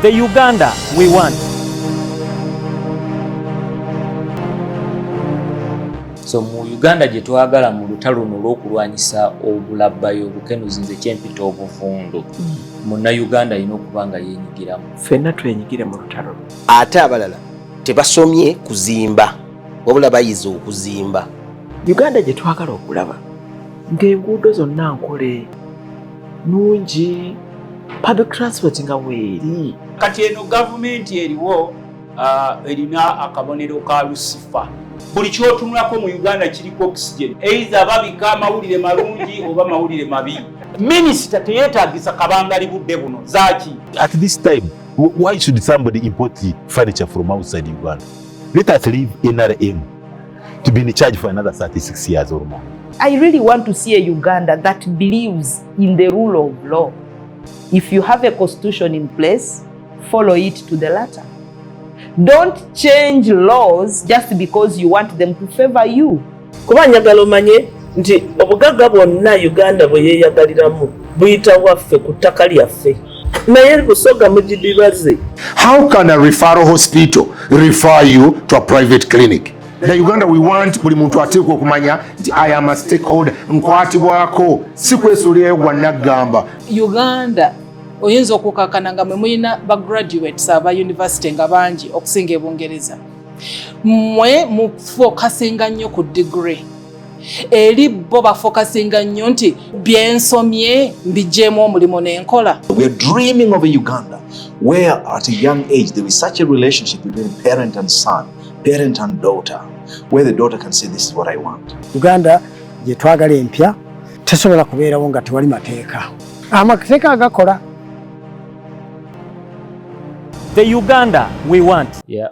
The Uganda we want. So mu Uganda gye twagala mu lutalo luno olw'okulwanyisa obulabbayi obukenuzi nze kyempita obuvundu mm. munnayuganda alina okuba nga yenyigiramu fenna twenyigire mu lutalo ate abalala tebasomye kuzimba wabula bayize okuzimba uganda gye twagala okulaba ng'enguudo zonna nkole nungi public transport nga weeri kati eno gavumenti eriwo uh, erina akabonero ka lusifa buli kyotunulako mu uganda kiriko oxygen eitha babika amawulire malungi oba mawulire mabi minisita teyetagisa kabangali budde buno zaki at this time why should somebody import furniture from outside uganda let us leave nrm to be in charge for another 36 years or more. I really want to see a Uganda that believes in the rule of law. If you have a constitution in place, follow it to the letter. Don't change laws just because you want them to favor you. Kuba njagala omanye nti obugagga bwonna Uganda bwe yeeyagaliramu buyita waffe ku ttaka lyaffe. naye busoga mugidibaze how can a referral hospital refer you to a private clinic na uganda we want buli muntu ateekwa okumanya nti i am a stakeholder nkwatibwako si kwesuulirayo gwa naggamba uganda oyinza okukakana nga mwe mulina ba graduates aba university nga bangi okusinga ebungereza mwe mufokasinga nnyo ku degree eri bo bafokasinga nnyo nti byensomye mbigyemu omulimu nenkola uganda gyetwagala empya tesobola kubeerawo nga tewali mateeka amateeka agakola the uganda we want yeah.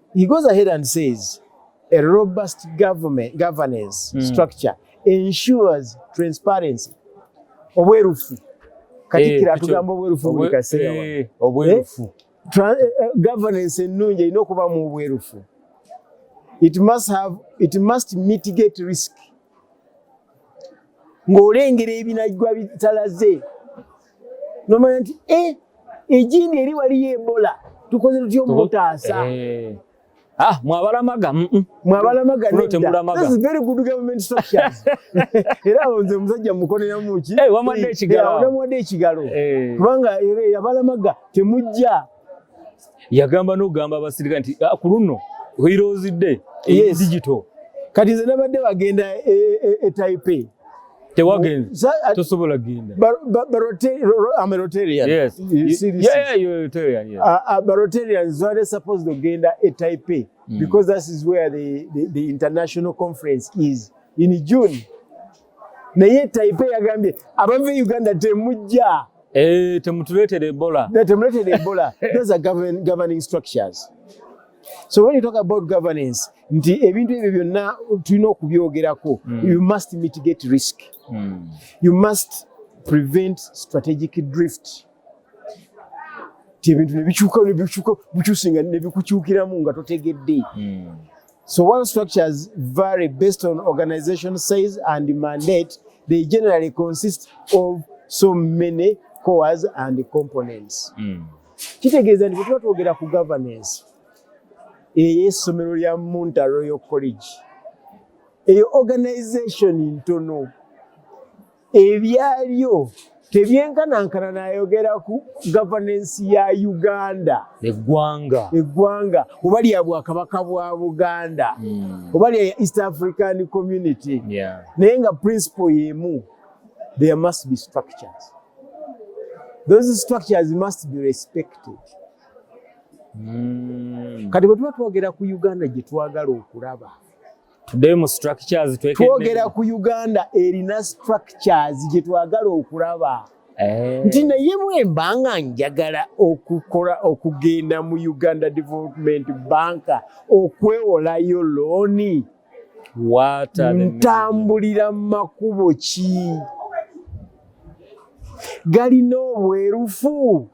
He goes ahead and says a robust government governance mm. structure ensures transparency obwerufu katikira eh, atugamba obwerufu buli kaseera eh, eh, obwerufu governance ennungi erina okuba mu obwerufu it must have it must mitigate risk ng'olengera ebinajwa bitalaze nomanya nti eh, ejini eri waliyo ebola tukoze tutya omutaasa eh. Ah, mwabalamaga mm -mm. mwabalamaga temulamaga this is very good government structure era onze muzajja mukolera muki eh, wamadde ekigalo hey, wamadde ekigalo hey. kubanga yabalamaga temujja hey. yagamba nogamba abasirika nti ah, kuluno oirozidde yes. digital kati nze nabadde bagenda etaipe e, e, e tewagenze tosobola genda barotarians were supposed to genda e taipei mm. because that is where the, the, the international conference is in june naye taipe yagambye abava e uganda temujja eh, temutuletera ebola temuletera ebola those are govern, governing structures so when you talk about governance nti ebintu ebyo byonna tulina okubyogerako mm. you must mitigate risk mm. you must prevent strategic drift ti ebintu nebikyuka nebikyuka bukyusinga nebikukyukiramu nga totegedde hmm. so one structures vary based on organization size and mandate they generally consist of so many cores and components hmm. kitegeeza nti bwetuba twogera ku governance eyo essomero lya munta royal college eyo organization ntono ebyalyo tebyenkanankana nayogera ku gavanensi ya uganda eggwanga eggwanga oba lya bwakabaka bwa buganda hmm. oba lya east african community naye nga principle yemu there must be structures those structures must be respected hmm. kati bwe tuba twogera ku uganda gye twagala okulaba tuddeyo mu structures twogera ku uganda erina structures gye twagala okulaba eh. nti naye bwemba nga njagala okukola okugenda mu uganda development bank okwewolayo looni ntambulira mu makubo ki galina obwerufu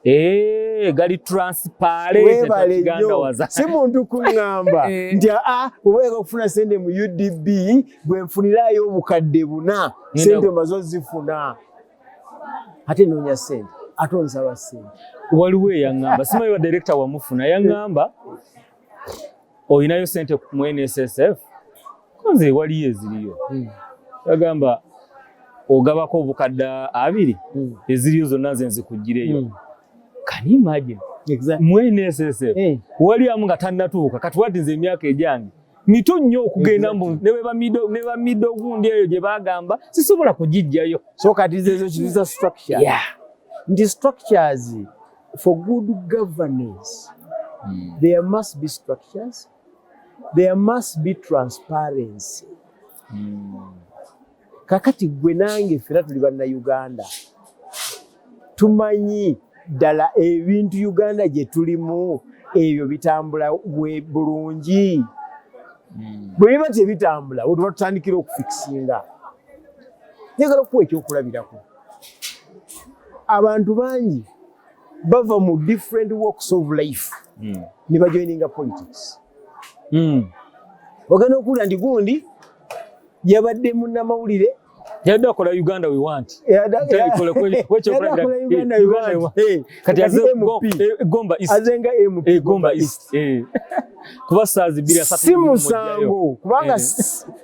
Eh, gali transparent takigandawaza si muntu kuŋŋamba eh. nti aa ah, obaega okufuna sente mu udb gwe nfunirayo obukadde buna sente omaze ozifuna ate noonya sente ate onsaba sente waliwo eyaŋŋamba simanyi wa direkita wamufuna yaŋŋamba olinayo sente ku NSSF konze waliyo eziriyo hmm. agamba ogabako obukadde abiri hmm. eziriyo zonna nze nzikuggyireyo hmm. can you imagine exactly. mu NSSF hey. waliamu nga tannatuuka kati wati nze emyaka egyange mito nnyo okugenda mbu ne ba middle gundi eyo gye bagamba sisobola kugijjayo so kati zezo kiziza structure yeah. ndi structures For good governance, mm. there must be structures, there must be transparency. Mm. Kakati gwe nange fera tuli banna Uganda. Tumanyi dala ebintu Uganda gye tulimu ebyo bitambula we bulungi. Mm. Bwe biba tebitambula, wetwa tutandikira okufikisinga. Njagala okuwa ekyokulabirako. abantu bangi bava mu different works of life mm. ne bajoininga politics mm. ogenda okuwulira nti gundi yabadde munnamawulire yadde akola uganda we want kuba saazi biri si musango kubanga eh.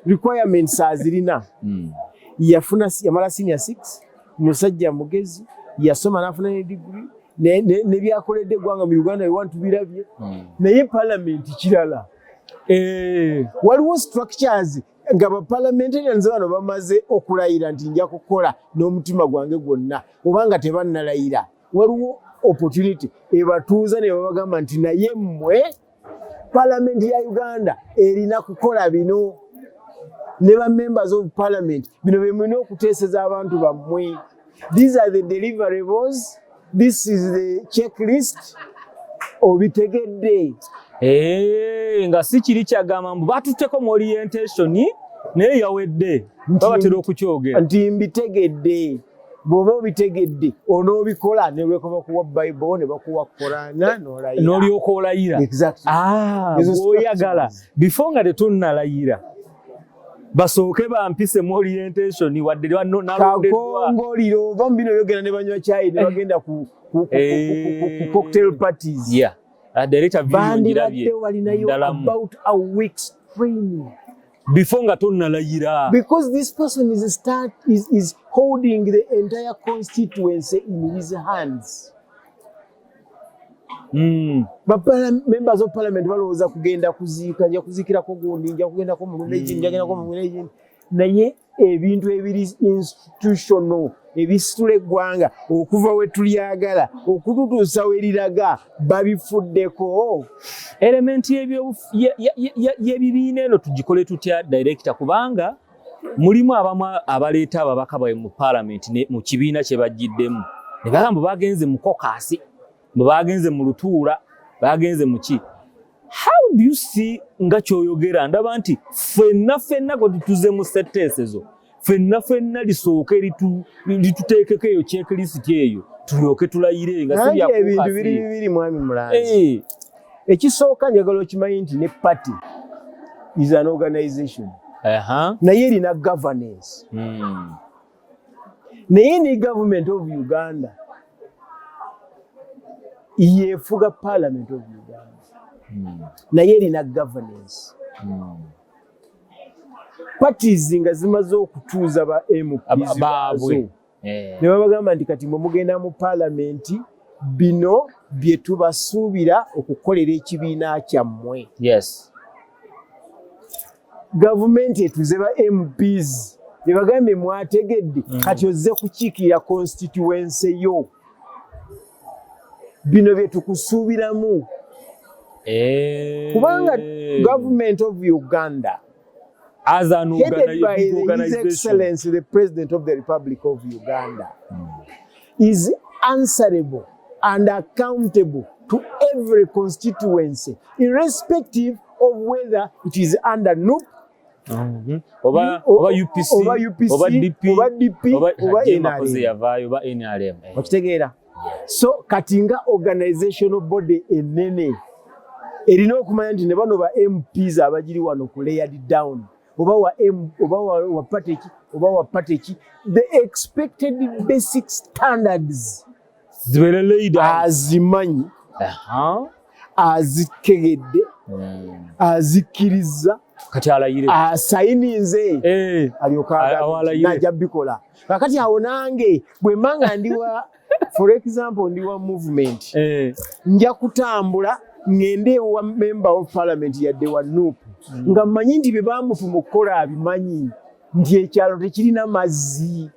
requirements azirina hmm. yafuna yamala senior six musajja mugezi yasoma nafuna ne degree nebyakoledde eggwanga mu uganda ewantu birabye hmm. naye palamenti kirala eh, waliwo structures nga bapalamentarians bano bamaze okulayira nti nja kukola n'omutima gwange gwonna oba nga tebannalayira waliwo opportunity ebatuuza ne babagamba nti naye mmwe Palamenti ya Uganda erina kukola bino ne ba members of parliament bino bye mulina okuteeseza abantu bammwe. These are the deliverables. This is the checklist. Obitegedde. Hey, eh, nga si kiri kyagamba mbu batutteko mu orientation naye yawedde babatera okukyogera nti mbitegedde bw'oba obitegedde onoobikola ne lwekoba kuwa bayibuli ne bakuwa korana n'olayira n'olyoka olayira ah, bw'oyagala bifo nga tetunnalayira basooke bampisemu orientation wadde nalondedwakakongolira ova mu bino byogera ne banywa kyayi ne bagenda ku eh. cocktail parties ah, bandibadde walinayo about a weeks training before nga tonnalayira because this person is, start, is, is holding the entire constituency in his hands Mm. members of parliament balowooza kugenda kuziika nja kuziikirako gundi nja kugendako mulumeji mm. nja kugendako mulumeji naye ebintu ebiri institutional ebisitula eggwanga okuva we tulyagala okututuusa we liraga babifuddeko elementi y'ebibiina eno tugikole tutya direkita kubanga mulimu abamu abaleeta ababaka bawe mu palamenti mu kibiina kye bajjiddemu ne bagamba bagenze mu kokasi bwe bagenze mu lutuula bagenze muki how do you see nga kyoyogera ndaba nti fenna fenna kwe tutuze mu setteesezo fenna fenna lisooke lituteekeko eyo kyekirisiti eyo tulyoke tulayire nga sibyaebintu biri bibiri mwami mulanzi eh. ekisooka njagala okimanyi nti ne party is an organization naye erina governance hmm. naye ne government of uganda yefuga parliament of uganda hmm. naye erina governance hmm. parties nga zimaze okutuuza ba mpbaazo eh. ne babagamba nti kati mwe mugenda mu palamenti bino bye tubasuubira okukolera ekibiina kyammwe yes. gavumenti etuze ba mps gyebagambye mwategedde mm. kati ozze kukiikirira konsitituwense yo bino byetukusuubiramu eh. kubanga government of uganda as an headed by his excellency the president of the republic of uganda mm. is answerable and accountable to every constituency irrespective of whether it is under NUP mm-hmm. oba oba UPC oba UPC oba DP oba DP oba oba NRM okitegeera so kati nga organizational body enene erina okumanya nti ne bano ba MPs abagiri wano ku layered down oba wa M oba wa, wa party oba wa party the expected basic standards azimanyi azitegedde hmm. azikkirizza kati alayire asayininze eh, alyokanajja bikola kakati awo nange bwe mbanga ndiwa for example ndiwa movement eh. nja kutambula ngende ewa member of parliament yadde wa nup hmm. nga mmanyi nti bye bamutuma okukola abimanyi nti ekyalo tekirina mazzi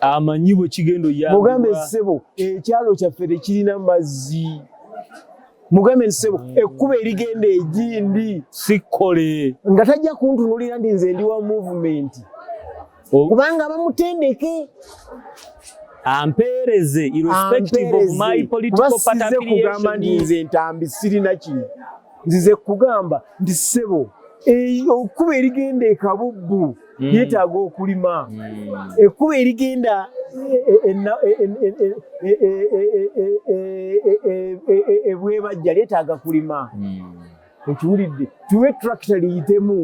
amanyi bwe kigenda oyamba mugambe ssebo ekyalo kyaffe tekirina mazzi mugambe nti sebo mm. ekkuba erigenda egindi sikkole nga tajja kuntunulira ndi nze ndi wa movement oh. kubanga bamutendeke ampeereze irrespective of my political party affiliation nze ntambi sirina kino nzize kugamba nti sebo okuba erigenda ekabubbu hmm. yetaaga okulima hmm. ekkuba erigenda ebwebajja lyetaaga kulima ekiwulidde tuwe tractor liyitemu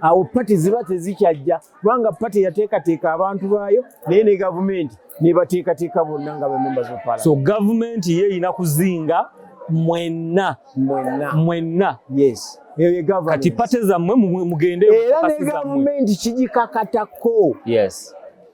awo pati ziba tezikyajja kubanga pati yateekateeka abantu baayo naye ne gavumenti nebateekateeka bonna nga bamemba zopala so gavumenti ye erina kuzinga mwenna mwenna mwenna yes kati pate zammwe mugende era ne gavumenti kigikakatako yes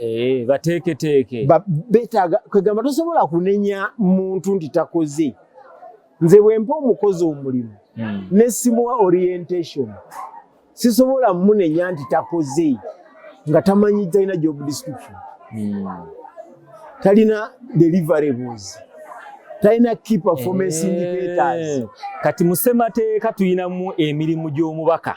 Eh, bateeketeeke betaaga kwegamba tosobola kunenya muntu nti takoze nze bwempa omukozi omulimu hmm. nesimuwa orientation sisobola munenya nti takoze nga tamanyi talina job description hmm. talina deliverables talina key performance eh, indicators kati musemateeka tulinamu emirimu gy'omubaka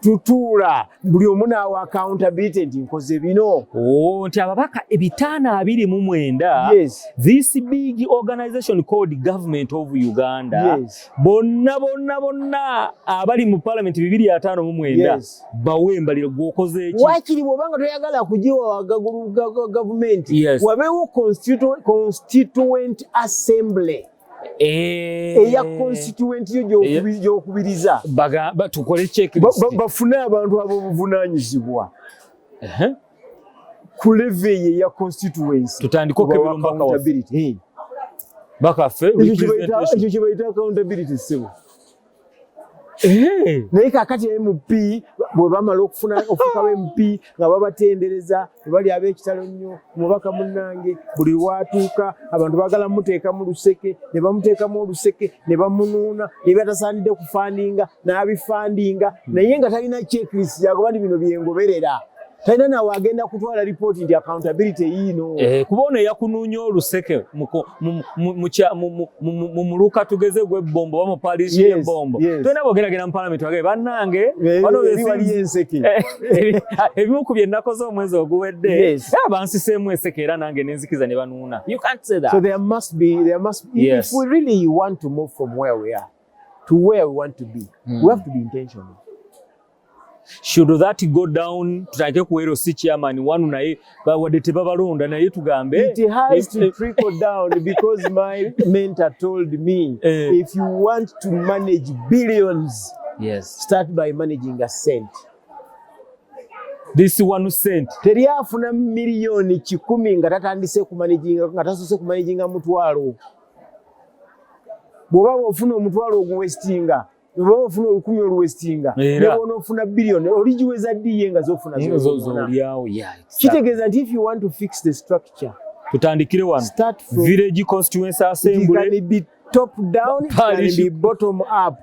tutuula buli omu naawa accountability nti nkoze bino oh, nti ababaka ebitaano abiri mu mwenda this big organization called government of uganda bonna bonna bonna abali mu parliament bibiri ataano mu mwenda bawe embaliro gwokoze eki wakiri bwobanga toyagala kugiwa gavumenti wabeewo constituent assembly Eh. eya constituent yo gyokubiriza bafune abantu abobuvunanyizibwa ku leve ye ya constituencyekyo kyebayita accountability sebo Eh. naye kakati mp bwebamala okufuna ofuka ba mp nga babatendereza bali abekitalo nnyo omubaka munange buli watuuka abantu bagala muteekamu luseke ne bamuteekamu oluseke ne bamunuuna nebyatasaanidde kufandinga n'abifandinga naye nga talina checklist yagoba ni bino byengoberera talina nawe agenda kutwala lipooti nti accountability yiino eh, kuba ono eyakunuunya oluseke mu muluka tugeze gw'ebbombo oba mu paliisi y'ebbombo tolina bwogeragera mu palamenti wage bannange waliyo enseke eh, ebimu ku bye nnakoze omwezi oguwedde eh, bansiseemu enseke era nange nenzikiza ne banuuna you can't say that so there must be there must be yes. if we really want to move from where we are to where we want to be mm. we have to be intentional should that go down tutandike kuwero si chairman wanu naye wadde tebabalonda naye tugambe it has to trickle down because my mentor told me eh. if you want to manage billions yes. start by managing a cent this one cent teri afuna miliyoni kikumi nga tatandise kumanaginga nga tasose kumanaginga mutwalo bwoba bwofuna omutwalo oguwesitinga oba ofuna olukumi oluwesitinga nebona ofuna billion oligiweza ddi ye nga zofuna zolyawo kitegeeza nti if you want to fix the structure tutandikire wano village constituency assembly top down and be bottom up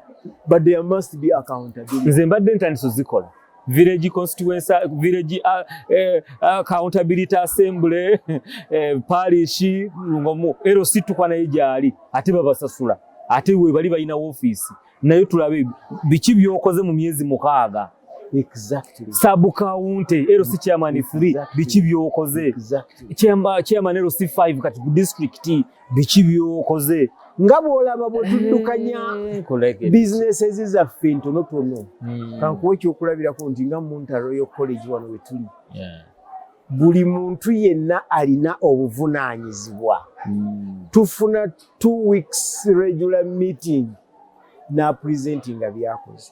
but there must be accountability nze mbadde ntandise zikola village constituency village uh, eh, uh, accountability assembly eh, parish ngomu ero situkwa naye gyali ate babasasula ate we bali balina office naye tulabe biki byokoze mu myezi mukaaga exactly sub county ero si chairman free exactly. biki byokoze exactly chairman chairman ero si 5 kati district biki byokoze nga bwolaba bwetuddukanya eh, businesses zaffe ntonotono hmm. kankuwa ekyokulabirako nti nga munta royal college wano wetuli buli muntu yenna alina obuvunanyizibwa hmm. tufuna t weeks regular meeting napresentinga byakoze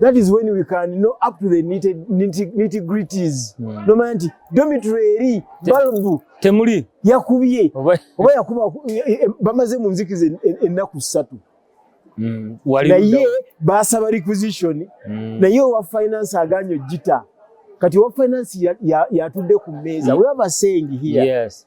that is when we can know up to the nitty gritties hmm. nomanya nti domitry eri balbu temuli yakubye oba yakuba eh, eh, eh, bamaze mu nzikiza ennaku ssatu hmm, naye basaba requisition hmm. naye owa finance aganya ojita kati owa finance yatudde ku meeza we have a saying here yes.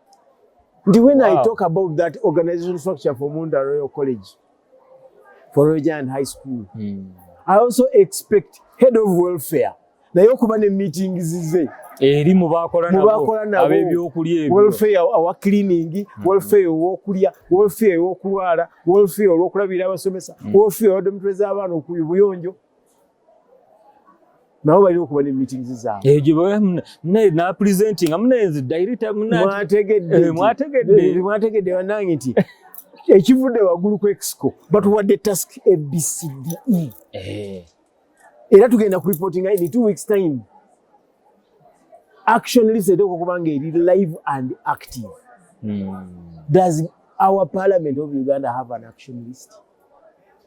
When wow. I talk about that organization structure for Munda Royal College, for Rojan High School, mm. I also expect head of welfare naye okuba ne meetings ze eri mu bakola nabo ab'ebyokulya ebyo welfare awa cleaning hmm. welfare ow'okulya welfare ow'okulwala welfare olw'okulabirira abasomesa hmm. welfare wa dormitory z'abaana okuyubuyonjo nabo balina okuba ne meetings zaabwe egyo eh, munaye na presenting munaye nze director munaye mwategedde eh, mwategedde eh, mwategedde banange nti ekivudde waggulu ku exco batuwadde task abcde era tugenda ku reporting in two weeks time action list eteeka okuba nga eri live and active hmm. does our parliament of uganda have an action list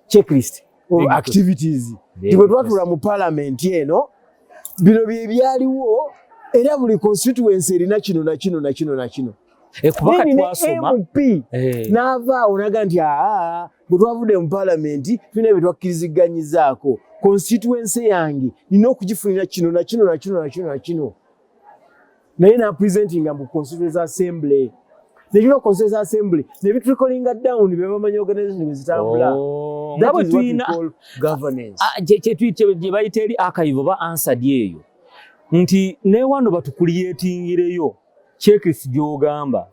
checklist or activities tibwe twatula mu parliament eno bino bye byaliwo era buli constituency erina kino na kino na kino na kino eh, mp eh. n'avaawo naga nti aa bwe twavudde mu palamenti tulina bye twakkiriziganyizaako constituency yange nina okugifunira kino na kino na kino na kino na kino naye na presentinga mbu constituency assembly nekiba constituency assembly ne bi trickling down be bamanyi organization bezitambula oh, that is what we call governance ah, je je tweet je bayite eri archive ba answer yeyo nti ne wano batukuliyetingireyo checklist gyogamba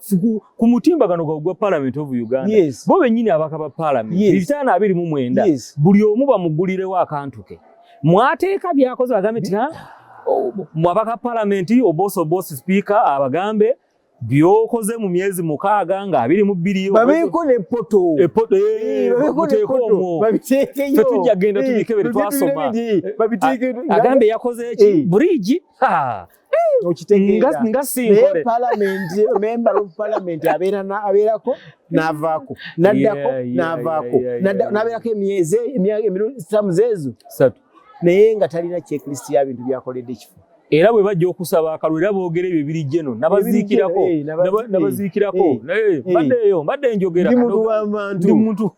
ku mutimba gano gwa parliament of uganda yes. bo benyini abakaba parliament yes. bitano abiri mu mwenda yes. buli omu bamugulirewo akantu ke mwateeka byakoze bagambe nti mwabaka palamenti oboso bosi sipiika abagambe byokoze mu myezi mukaaga nga abiri mu bbiri babeeko ne poto epoto eh, eh, babeeko omwo babiteekeyo tetujja genda eh, tubikebere twasoma babiteekeyo agambe yakoze eki buriigi okitegeeraye palamenti member of palamenti abeerako navaako naddako navaako nabeerako emyezi emirusamu zeezo naye nga talina checklist ya bintu byakoledde ekifo era bwe bajja okusaba akalulu era boogera ebyo ebiri jeno nabaziikirako eh, nabaziikirako eh, eh, mbadde eyo mbadde njogera ndi muntu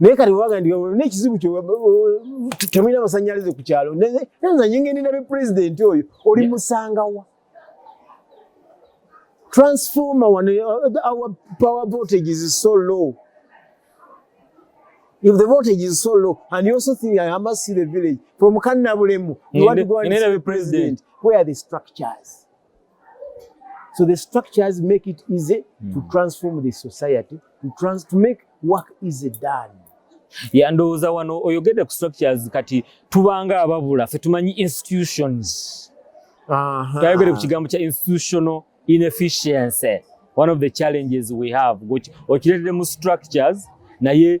naye kati wewaga ndi nekizibu kyo temulina masanyalaze ku kyalo nza nyingeni nabe pulezidenti oyo oli musangawa transformer one uh, our power voltage is so low if the voltage is so low and you also think i must see the village from kannabulemu you want to go and see the president where are the structures So the structures make it easy mm. to hmm. transform the society, to, trans to make work easy done. Yeah, ndowooza wano oyogedde ku structures kati tubanga ababula fe tumanyi institutions tayogedde ku kigambo kya institutional inefficiency one of the challenges we have okireetedde mu structures naye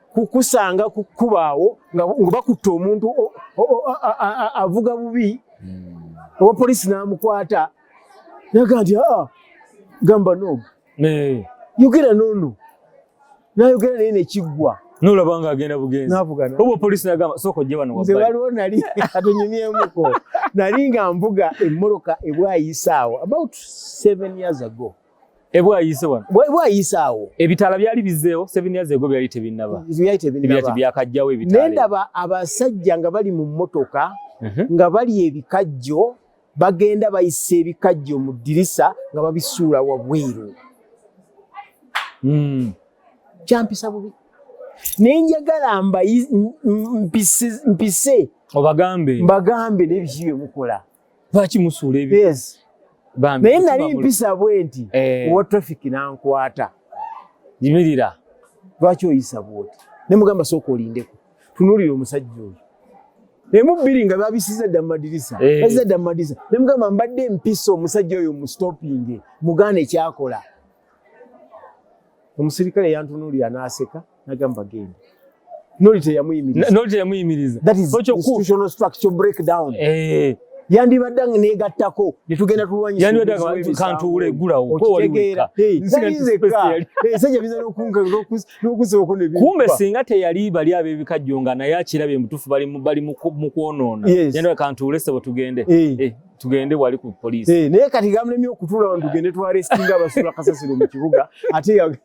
kukusanga ku kkubo awo nga bakutte omuntu avuga bubi hmm. owa poliisi n'amukwata naga nti aa ah, gamba noomu yogera noono nayogera naye nekiggwa nolaba nga agenda bugenzi obwo poliisi nagamba sooka ojje wano nze waliwo nali atunyumyemuko nali nga mvuga emmoloka ebwayisaawo about seven years ago ebwayise wano bwayise awo ebitala byali bizeewo seven years ago byali tebinnaba byali tebinnaba byakajjawo ebitala nendaba abasajja nga bali mu mmotoka mhm. nga bali ebikajjo bagenda bayisa ebikajjo mu ddirisa nga babisuula wabweru hmm. kyampisa bubi naye njagala mpise obagambe mbagambe nebiki byemukola lwaki musuula ebyo yes. naye nali mpisa bwe nti eh. owa traffic nankwata yimirira lwaki oyisa bwoti ne mugamba sooka olindeko tunuulira omusajja oyo emu bbiri nga babisiza dda mumadirisa eh. baziza dda mumadirisa ne mugamba mbadde mpisa omusajja oyo mustopinge mugaana ekyakola omusirikale yantunuulira n'aseka nagamba genda noli teyamuyimiriza noli teyamuyimiriza that is institutional structure breakdown eh yandibadde nga negattako netugenda tulwanyisakantuule gulawo okitegeera kumbe singa teyali bali abebikajjo nga naye akirabye mutufu bali mukwonoona yandibadde kantuule sebo tugende eh, tugende wali ku poliisi eh, naye kati gamulemye okutula abantu tugende twarestinga abasula kasasiro mu kibuga ate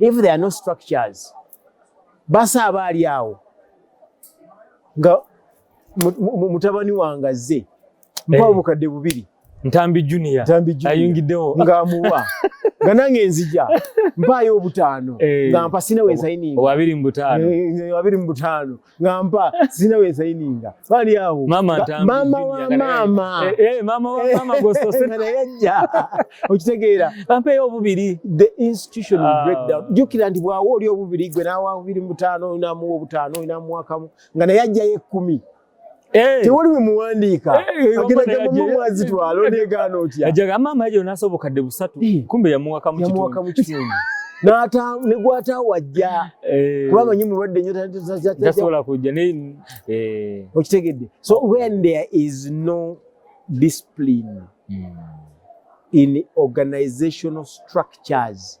if there are no structures basa aba ali awo nga mutabani wange azze eh. mpa obukadde bubiri ntambi junior ayingiddewo ng'amuwa nga nange nzija mpaayo obutaano eh. nga mpa sinawe nsayiniwabiri mu butaano eh, nga mpa sina we saininga bali awo mama ntambi mama wa mama eh, eh mama wa eh, mama gosto sena yajja okitegeera bampe yo obubiri the institution ah. breakdown jukira ndi bwawo oli obubiri gwe nawa obubiri mutano na mu obutano ina mwaka nga naye ajja ye 10 Eh. tewali we muwandiika eh, ageragamba mu mwazi twala oneegaana otya ajaga maama yajo nasobokadde busatu eh. kumbe yamuwaka mu kitundu nata ne gwata wajja kuba amanyi mulwadde nnyo tasobola kujja okitegedde so when there is no discipline hmm. in organizational structures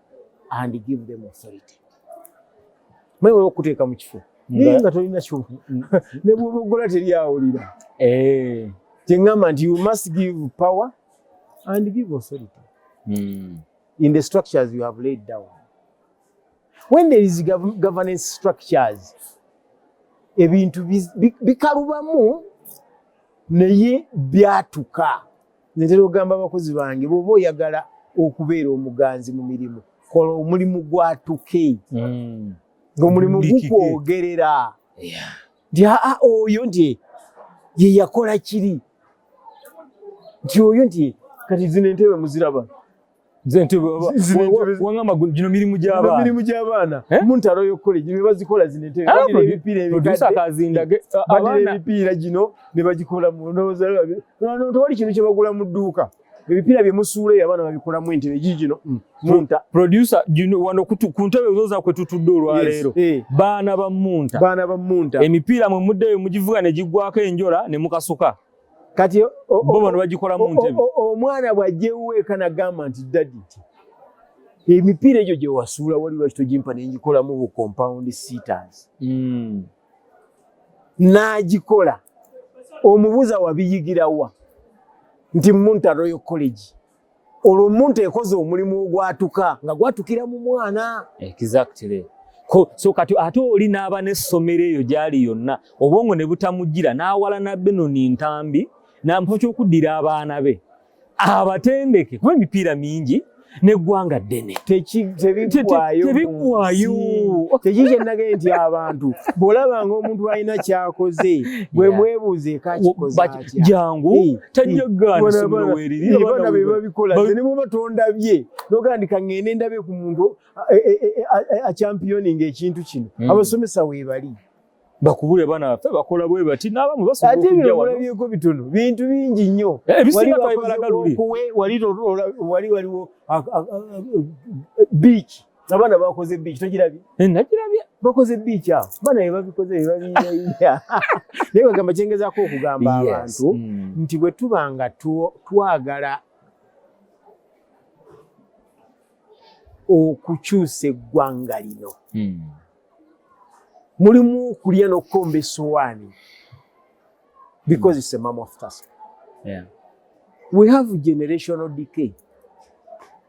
and give them authority mwewala okuteeka mu kifo naye nga tolina kyo ne bwobogola teri awulira eh. kyeŋŋamba nti you must give power and give authority hmm. in the structures you have laid down when there is governance structures ebintu bikalubamu naye byatuka Ntera ogamba abakozi bange bwoba oyagala okubeera omuganzi mu mirimu kola omulimu gwatuke mm. ngaomulimu gukwogerera nti aa oyo nti ye yakola kiri nti oyo nti kati zino entebe muziraba nze nti wangamba gino mirimu gy'abaana mirimu gy'abaana eh? mu ntalo y'okukola gino ne bazikola zino entebe ah, badira ebipiira ebikadebadira ah, ebipiira gino ne bagikola mu ndowooza tewali kintu kye bagula mu dduuka ebipiira bye musuula eyo abaana babikolamu entebe gi gino mm. munta produsa wano ku ntebe ozoza kwe tutudde olwaleero eh. baana ba munta baana ba munta emipiira mwe muddeyo mugivuga ne giggwako enjola ne mukasuka kati bo bano bagikola mu ntebe omwana bwajjewo eka nagamba nti dadi nti emipiira egyo gye wasuula wali lwaki togimpa ne ngikolamu bu compound seaters hmm. n'agikola omubuuza wabiyigirawa nti munta royal college olwo omuntu ekoze omulimu ogwatuka nga gwatukira mu mwana exactly so kati ate oli n'aba n'essomero eyo gyali yonna obwongo ne butamujjira n'awalana benoni ntambi nampa kyokuddira abaana be abatendeke kuba emipiira mingi neggwanga ddene tebiggwayo tekiki kyenagee nti abantu bwolabanga omuntu alina kyakoze bwemwebuuze ekakikoze jangu tajjagaanabaana be babikola ze ne bwoba tondabye nogandika ngende ndabe ku muntu achampioninga ekintu kino hmm. abasomesa weebali bakubule bana baffe bakola bwe bati n'abamu basobolaate birabolabyeko bitono bintu bingi nnyo eh, ebisingaokuwe wali waliwo biiki Abana bakoze beach tokirabye? Eh, nakirabye. Bakoze beach awo. Bana bye babikoze bye babiyiya. Naye bagamba kyengezaako okugamba abantu mm. nti bwe tuba nga twagala okukyusa eggwanga lino mm. mulimu okulya n'okukomba essowaani because it's a mom of task. Yeah. We have generational decay.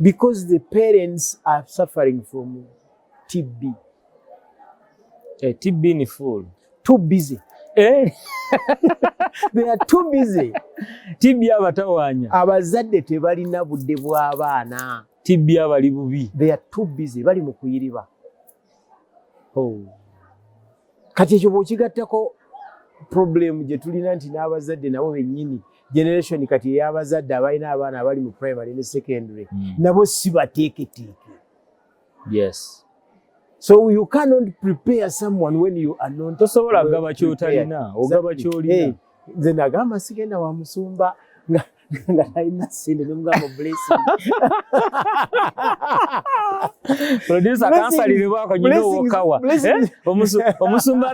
because the parents are suffering from TB. A eh, TB in full. Too busy. Eh? They are too busy. TB abatawanya. Abazadde tebalina budde bw'abaana. TB abali bubi. They are too busy. Bali mu kuyiriba. oh. kati ekyo bwokigattako problem gye tulina nti n'abazadde nabo bennyini generation kati ey'abazadde abalina abaana abali mu primary ne secondary mm. nabo si bateeketeeke yes so you cannot prepare someone when you are not tosobola gaba kyotalina ogaba kyolina nze nagamba sigenda wa musumba nga talina sente nemugamba producer kansaliribwako nyina owokawa omusumba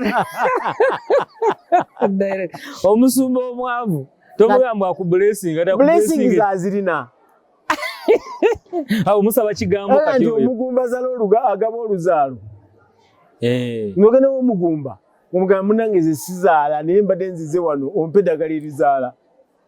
omusumba omwavu tomugamba aku blessing azirina awo musaba kigambo kati omugumba zala oluga agaba oluzaalo eh. ngogenda womugumba omugamba munange zesizaala naye mbadde nzize wano ompe eddagala erizaala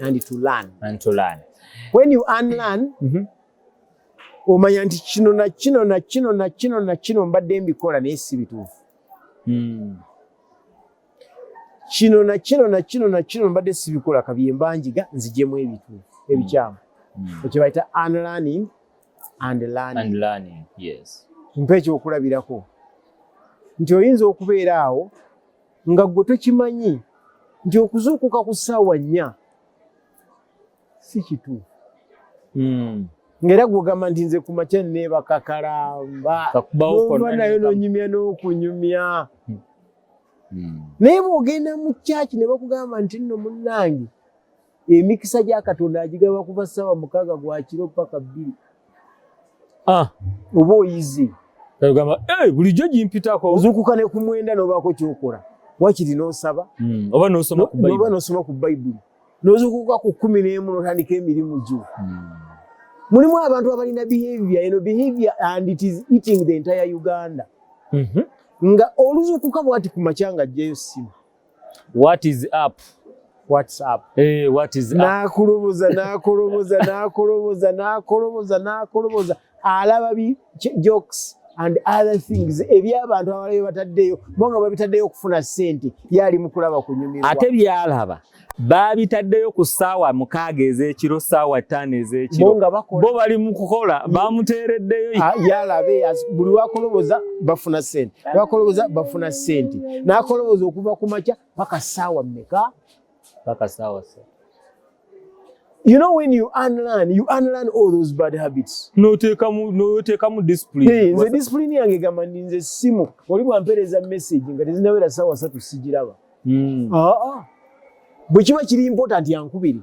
and to learn and to learn when you unlearn mm -hmm. omanya nti kino na kino na kino na kino na kino mbadde mbikola naye si bituufu hmm. kino na kino na kino na kino mbadde sibikola kabye mbanjiga nzijemu ebituufu ebikyamu hmm. hmm. ekyebayita unlearning and learning mpa ekyokulabirako nti oyinza okubeera awo nga gwe tokimanyi nti okuzuukuka ku ssaawa nnya si kituufu hmm. ngaera gwogamba nti nze kumakya nebakakalamba ova nayo nonyumya n'okunyumya hmm. Hmm. naye bwogenda mu kyaki ne bakugamba nti nno munnange emikisa gya katonda agigaba kuva ssaawa mukaaga gwa kiro paka bbiri ah. oba oyize ogamba bulijjo gimpitako ozuukuka ne ku mwenda n'obaako kyokola wakiri n'osaba hmm, oba n'osoma ku bayibuli n'ozuukuka ku kkumi n'emu n'otandika emirimu gyo hmm. mulimu abantu abalina behavior eno behavior and it is eating the entire uganda mhm. nga oluzuukuka bwati ku makyanga ajjayo ssimu What is up? What's up? Hey, eh, what is up? Nakulubuza, nakulubuza, nakulubuza, nakulubuza, nakulubuza. Alaba bi jokes and other things eby'abantu abalayo bataddeyo bo nga babitaddeyo okufuna ssente ye ali mu kulaba kunyumirwa ate byalaba baabitaddeyo ku ssaawa mukaaga ez'ekiro ssaawa ttaano ez'ekiro bo bali mu kukola bamuteereddeyo ah, yalabe buli wakoloboza bafuna ssente bakoloboza bafuna sente nakoloboza okuva ku makya paka saawa meka paka saawa You know when you unlearn, you unlearn all those bad habits. No take mu no take mu discipline. Hey, the discipline yange gamba ninze simu. Oli bwa mpereza message nga tezinawera sawa satu sijiraba. Mm. Ah ah. Bwe kiba kiri important yankubiri.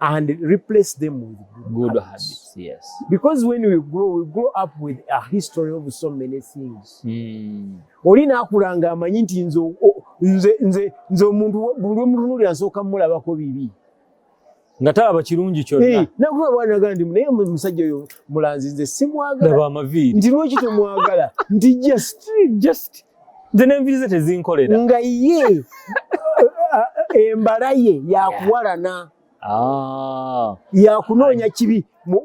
and replace them with good, good habits. habits. Yes. Because when we grow, we grow up with a history of so many things. Mm. Oli nakula nga amanyi nti nze nze nze nze omuntu buli omutunulira nsooka mulabako bibi nga talaba kirungi kyonna hey, nakuba bwana gandi naye musajja oyo mulanzi nze simwagala nti lwaki temwagala nti just just nze nenvize tezinkolera nga ye embala ye yakuwalana ah. yakunoonya kibi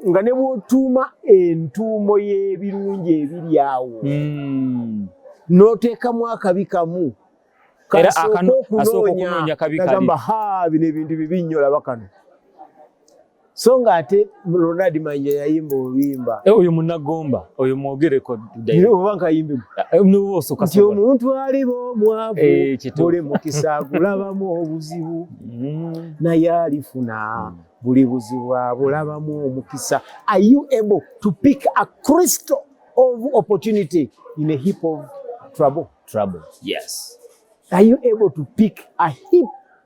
nga ne bwotuuma entuumo y'ebirungi ebiri awo hmm. n'oteekamu akabi kamu era akanoonya kabi kali bino ebintu bibi nnyo laba kano so nga ate Ronald Manja yayimba oluyimba eh, oyo munagomba oyo mwogereko oba nkayimbe eh, nti omuntu aliba omwavu eh, buli mukisa gulabamu obuzibu mm. naye alifuna mm. buli buzibu abulabamu omukisa are you able to pick a crystal of opportunity in a heap of trouble trouble yes are you able to pick a heap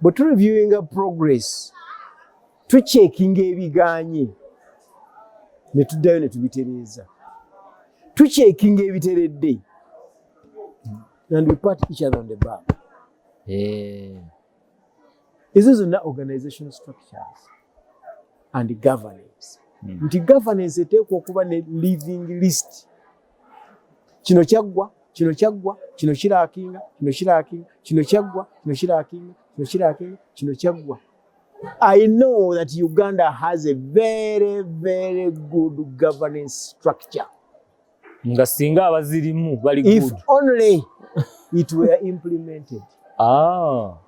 bwe tu reviewinga progress tukyekinga ebiganye ne tuddayo ne tubitereeza tukyekinga ebiteredde and we pat each other on the back eh. ezo zonna organization structures and governance hmm. nti governance eteekwa okuba ne living list kino kyaggwa kino kyaggwa kino kirakinga kino kirakinga kino kyaggwa kino kirakinga kino kirakinga kino kyaggwa I know that Uganda has a very very good governance structure nga singa abazirimu bali good if only it were implemented ah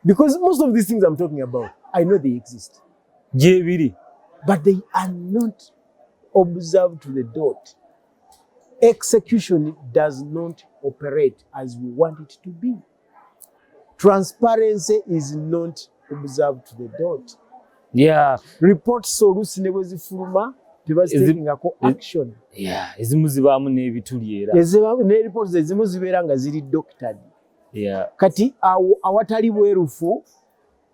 because most of these things I'm talking about I know they exist gyebiri but they are not observe to the dot execution does not operate as we want it to be transparency is not observed to the dot yeah report solusi ne bwezifuluma tebaziteekingako action yeah ezimu zibaamu n'ebituli era ezibaamu ne reports ezimu zibeera nga ziri doctored yeah kati awo awatali bwerufu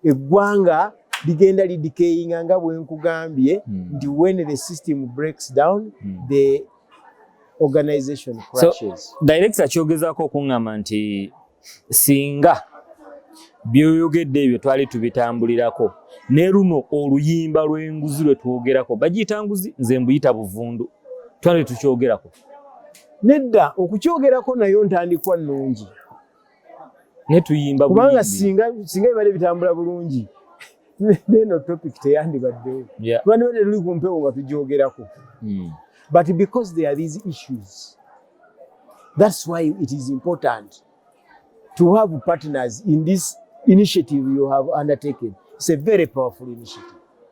eggwanga ligenda lidikeyinga nga bwenkugambye hmm. nti when the system breaks down hmm. the organization crashes so, director kyogezako okuŋŋamba nti singa byoyogedde ebyo twali tubitambulirako ne luno oluyimba lw'enguzi lwe twogerako bagiyita nguzi nze mbuyita buvundu twali tukyogerako nedda okukyogerako nayo ntandikwa nnungi naye tuyimba kubanga singa singa bibadde bitambula bulungi neno topic teyandibaddewo kuba nibadde tuli ku mpewo nga tugyogerako hmm. but because there are these issues that's why it is important to have partners in this initiative you have undertaken it's a very powerful initiative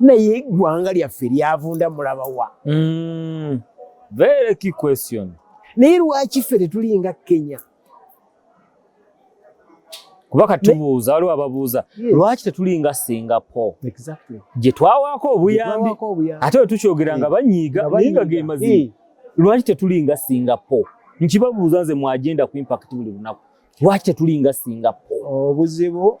naye eggwanga lyaffe lyavunda mulaba wa mm. very key question naye lwaki ffe tetulinga kenya kuba katubuuza waliwo ababuuza lwaki tetulinga singapore gye twawaako obuyambi ate we tukyogera nga banyiiga naye nga ge mazima lwaki tetulinga singapore nkibabuuza nze mwagenda ku impact buli lunaku lwaki tetulinga singapore obuzibu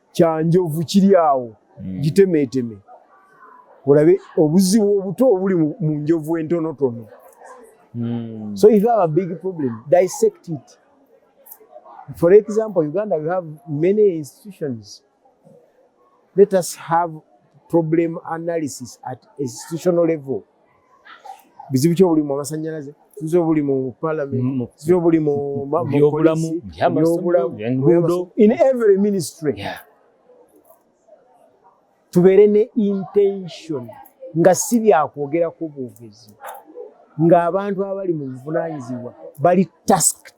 kyanjovu kiri awo hmm. gitemeeteme olabe obuzibu obuto obuli mu njovu entonotono hmm. so if you have a big problem dissect it for example uganda we have many institutions let us have problem analysis at institutional level bizibu ki obuli mu amasannyalaze nze obuli mu palamenti nze obuli mu byobulamu byobulamu in every ministry yeah. tubeere ne intention nga si byakwogerako bwogezi ng'abantu abali mu buvunanyizibwa bali tasked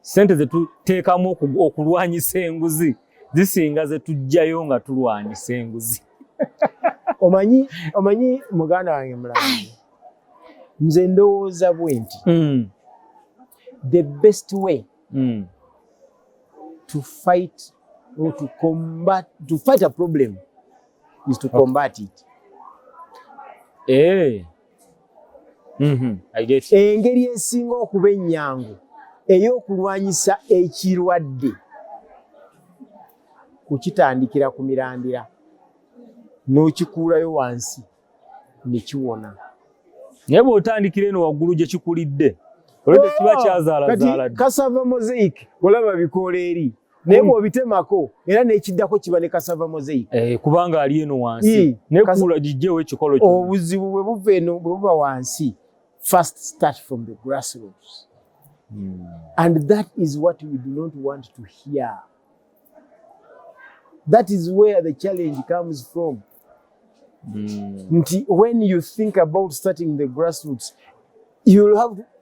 Sente ze tuteekamu okulwanyisa enguzi zisinga ze tujjayo nga tulwanyisa enguzi. Omanyi, omanyi muganda wange mulange, nze ndowooza bwe nti mm. the best way mm. to fight or to combat, to fight a problem is to combat it. Eh. Mm-hmm. engeri esinga okuba ennyangu ey'okulwanyisa ekirwadde kukitandikira ku mirandira n'okikuulayo wansi ne kiwona naye bw'otandikira eno waggulu gye kikulidde olwedde kiba oh, kyazaalazaalakasava mosaic olaba bikoola eri naye bwobitemako era nekiddako kiba ne kasava mozei eh, kubanga ali eno wansi nekuula gijjewo ekikolo kyo obuzibu bwe buva eno bwe buba wansi first start from the grassroots mm. and that is what we do not want to hear that is where the challenge comes from mm. nti when you think about starting the grassroots you'll have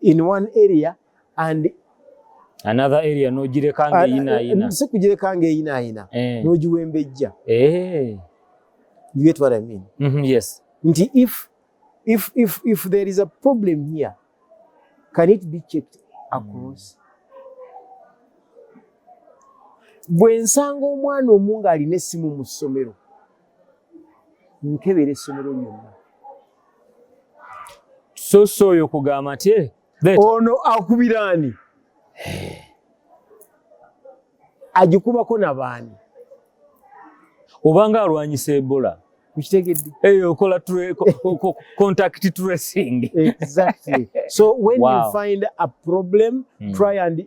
in one area and another area nogireka nga eyina ayina si kugireka nga eyina ayina eh. nogiwembejja eh. you get what i mean mm -hmm, yes nti if if if if there is a problem here can it be checked across mm. bwe nsanga omwana omu ng'alina essimu mu ssomero nkebera essomero lyonna soso oyo kugamba nti eh, ono akubira ani agikubako nabaani obanga alwanyisa ebola ukitegedde eyo eh, okola contact tracing exactly so when wow. you find a problem mm. try and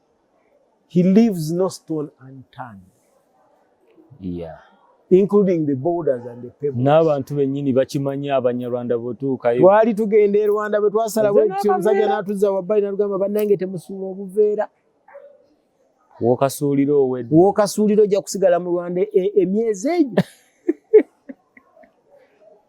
He leaves no stone unturned. Yeah. Including the borders and the pebbles. N'abantu bennyini bakimanyi abanyarwanda bwetuukayo. Twali tugenda e Rwanda bwe twasalawo ekyo omusajja n'atuzza wabbali n'atugamba bannange temusuula obuveera. Wokasuulira owedde. Wokasuulira ojja kusigala mu Rwanda e, e, emyezi egyo.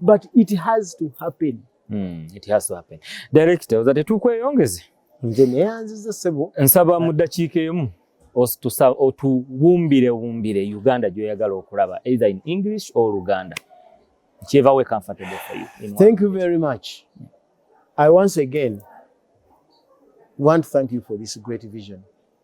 but it has to happen mm, it has to happen director oza tetukweyongeze nze neyanziza sebo nsaba mu ddakiika emu otuwumbire wumbire uganda gyoyagala okulaba either in english or luganda nkyeva we comfortable for you thank you very much i once again want to thank you for this great vision